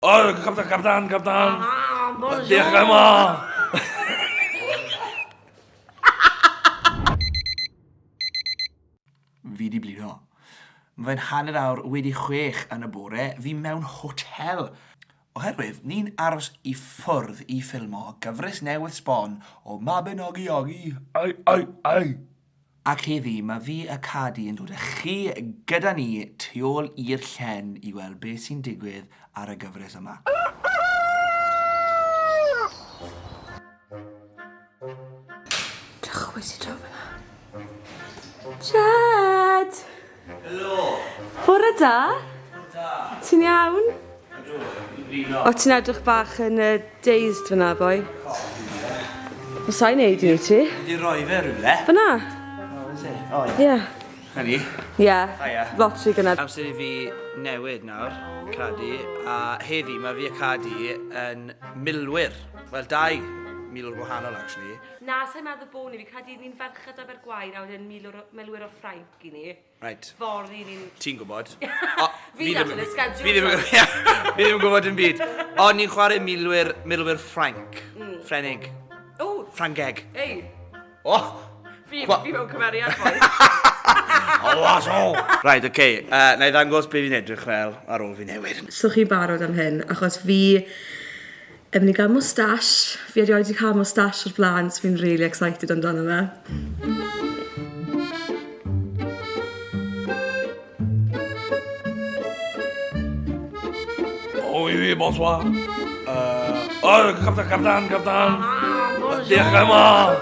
O, capdan, capdan, capdan. Diolch am o. Fi di blino. Mae'n hanner awr wedi chwech yn y bore, fi mewn hotel. Oherwydd, ni'n aros i ffwrdd i ffilmo gyfres newydd sbon o Mabinogi Ogi. Ai, ai, ai! Ac heddi mae fi a Cadi yn dod a chi gyda ni tu ôl i'r llen i weld beth sy'n digwydd ar y gyfres yma. Drychwys i draw fan'na. Jed! Helo! Bore da! Bore da! Ti'n iawn? Ydw, fi'n blino. O, ti'n edrych bach yn uh, dazed fyna, boi. Mae sa'n neud i ti. Wedi roi fe rhywle. Fyna? O, ie. Ie. Hynny? Ie. Haia. Lot rhy gynnar. Amser i fi newid nawr, Cadi, a heddi mae fi a Cadi yn milwyr. Wel, dau milwr gwahanol, actually. Na, sa'n meddwl bod ni, fi credu ni'n ferched Abergwaun a wedyn milwr, milwyr o Ffrainc. i ni. Right. Fory ni'n... Ti'n gwybod. Fi ddim yn ysgad Fi ddim yn gwybod yn byd. O, ni'n chwarae milwyr, milwyr Ffranc. Mm. Ffrenig. O! Ffrangeg. Ei. O! Fi, fi mewn cymeriad fwy. O, was o! Right, oce. Okay. Uh, na i ddangos beth fi'n edrych fel ar ôl fi newid. So chi barod am hyn? Achos fi... Yy fi'n cael moustache. Fi erioed 'di cael moustache o'r bla'n so fi'n rili excited amdano fe. O i fi, bonsoir. Uh, o, captan, captan, captan. Diolch am o.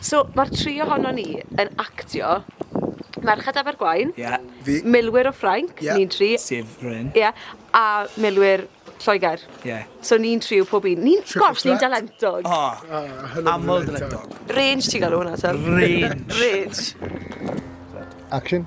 So, mae'r tri ohonon ni yn actio Merched Abergwaun... Ie, fi. ...Milwyr o Ffrainc... Ie. ...ni'n tri. Sef Bryn. Ie, a Milwyr Lloegr. Ie. So ni'n tri yw pob un. Ni'n... Triple threat. ...gosh, ni'n dalentog. O! O, hynod o dalentog. Aml dalentog. Range ti'n galw hwnna te? Range. Range. Action.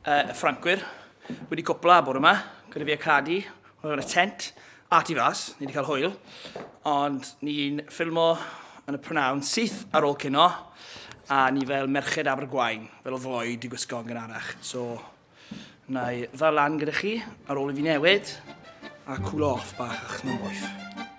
Y Ffrancwyr wedi cwpla bore yma, gyda fi a Cadi, hwnna yn y tent, a tu fas, ni wedi cael hwyl, ond ni'n ffilmo yn y prynawn syth ar ôl cino, a ni fel merched Abergwaun, fel oedd Lloyd wedi gwisgo yn gynharach. So, na i ddal lan gyda chi ar ôl i fi newid, a cwlo off bach achos mae'n boeth.